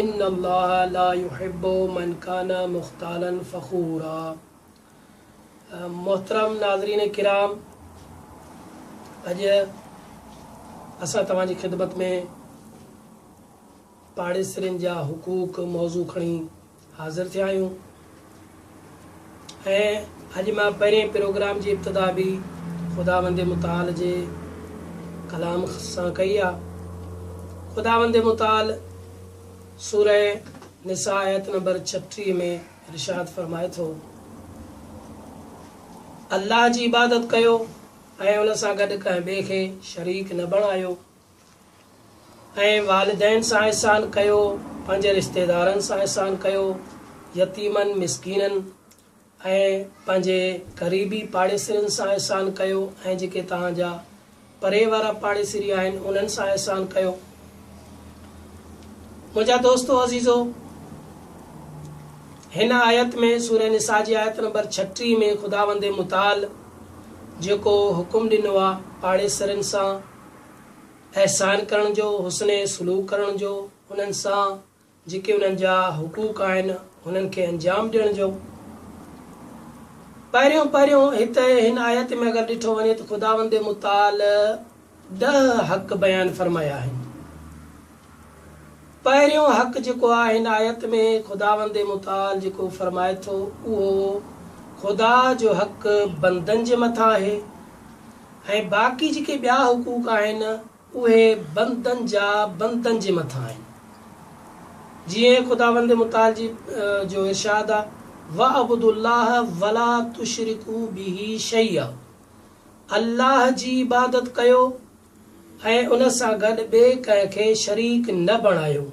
ان الله لا يحب من کان مختالا فخورا محترم ناظرين ڪرام اڄ اسان توهان جي خدمت ۾ پاڙيسرين جا حقوق موضوع کڻي حاضر ٿيا آهيون ۽ اڄ مان پهرين پروگرام جي ابتدا به خداوند متعال جي ڪلام سان ڪئي آ. خداوند متعال سورة نساء آيت نمبر ڇٽيهه ۾ ارشاد فرمائي ٿو، الله جي عبادت ڪيو ۽ ان سان گڏ ڪنهن ٻئي کي شريڪ نه بڻايو. ۽ والدين سان احسان ڪيو، پنهنجي رشتيدارن سان احسان ڪيو، يتيمن، مسڪينن ۽ پنهنجي قريبي پاڙيسرين سان احسان ڪيو ۽ جيڪي توهان جا پري وارا پاڙيسري آهن انهن سان احسان ڪيو. منهنجا دوستو عزيزو! هن آيت ۾ سوره نساء جي آيت نمبر ڇٽيهه ۾ خداوند متعال جيڪو حڪم ڏنو آهي پاڙيسرين سان احسان ڪرڻ جو، حسن سلوڪ ڪرڻ جو، انهن سان جيڪي انهن جا حقوق آهن انهن کي انجام ڏيڻ جو. پهريون پهريون هت هن آيت ۾ اگر ڏٺو وڃي ته خداوند متعال ڏهه حق بيان فرمايا آهن. پهريون حق جيڪو آهي هن آيت ۾ خداوند متعال جيڪو فرمائي ٿو اهو خدا جو حق بندن جي مٿان آهي ۽ باقي جيڪي ٻيا حقوق آهن اهي بندن جا بندن جي مٿان آهن جيئن خداوند متعال جي جو ارشاد آ واعبدوا الله ولا تشرڪوا به شيئا الله جي عبادت ڪيو ۽ ان سان گڏ ٻئي ڪنهن کي شريڪ نه بڻايو.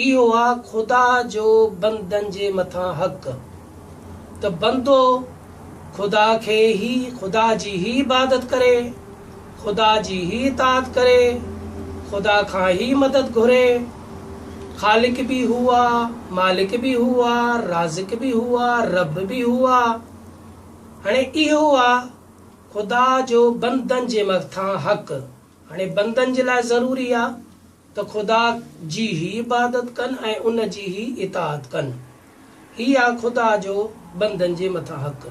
اهو آ خدا جو بندن جي مٿان حق ته بندو خدا کي هي، خدا جي هي عبادت ڪري، خدا جي هي اطاعت ڪري، خدا کان هي مدد گهري. خالق به هو آ، مالڪ به هو آ، رازق به هو آ، رب به هو آ. هاڻي اهو آ. خدا جو بندن جي مٿان حق، هاڻي بندن جي لاء ضروري آ ته خدا جي هي عبادت ڪن ۽ ان جي هي اطاعت ڪن. هي آ خدا جو بندن جي مٿان حق.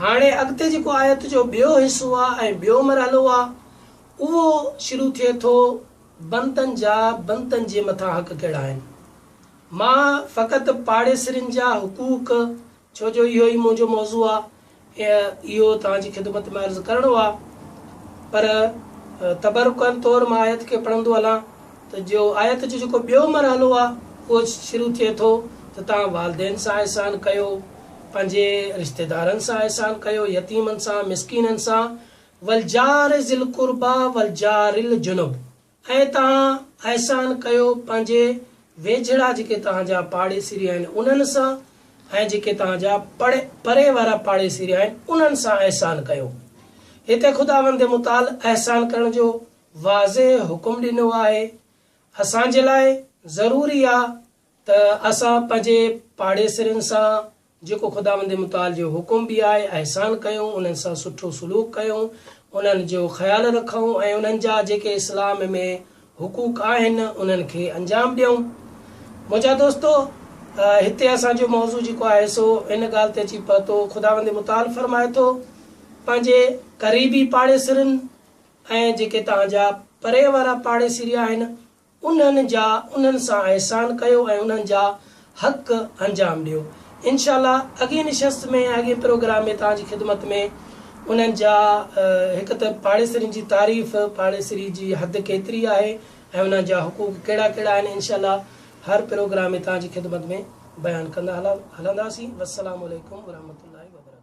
هاڻي اڳتي جيڪو آيت جو ٻيو حصو آ ۽ ٻيو مرحلو آ اهو شروع ٿئي ٿو بندن جا بندن جي مٿان حق ڪهڙا آهن. مان فقط پاڙيسرين جا حقوق ڇو جو اهو ئي منهنجو موضوع آ ۽ اهو توهان جي خدمت ۾ عرض ڪرڻو آ. پر تبرڪن طور مان آيت کي پڙهندو هلان ته جو آيت جو جيڪو ٻيو مرحلو آ اهو شروع ٿئي ٿو ته توهان والدين سان احسان ڪيو، پنهنجي رشتيدارن سان احسان ڪيو، يتيمن سان، مسڪينن سان، والجار ذي القربيٰ والجار الجنب. اي توهان احسان ڪيو پنهنجي ويجهڙا جيڪي توهان جا پاڙيسري آهن انهن سان ۽ جيڪي توهان جا پڙي پري وارا پاڙيسري آهن انهن سان احسان ڪيو. هتي خداوند متعال احسان ڪرڻ جو واضح حڪم ڏنو آهي. اسان جي لاء ضروري آ ته اسان پنهنجي پاڙيسرين سان جيڪو خداوند متعال جو حڪم به آهي، احسان ڪيون، انهن سان سٺو سلوڪ ڪيون، انهن جو خيال رکون ۽ انهن جا جيڪي اسلام ۾ حقوق آهن، انهن کي انجام ڏيون. منهنجا دوستو! هتي اسان جو موضوع جيڪو آهي سو ان ڳالهه تي اچي پهتو، خداوند متعال فرمائي ٿو، پنهنجي قريبي پاڙيسرين ۽ جيڪي توهان جا پري وارا پاڙيسري آهن، انهن جا انهن سان احسان ڪيو ۽ انهن جا حق انجام ڏيو انشاء الله اڳئين نشست ۾ ۽ اڳئين پروگرام ۾ توهان جي خدمت ۾ انهن جا هڪ ته پاڙيسرين جي تعريف پاڙيسري جي حد ڪيتري آهي ۽ انهن جا حقوق ڪهڙا ڪهڙا آهن انشاء الله هر پروگرام ۾ توهان جي خدمت ۾ بيان ڪندا هلنداسين والسلام عليڪم ورحمة الله وبرڪاته.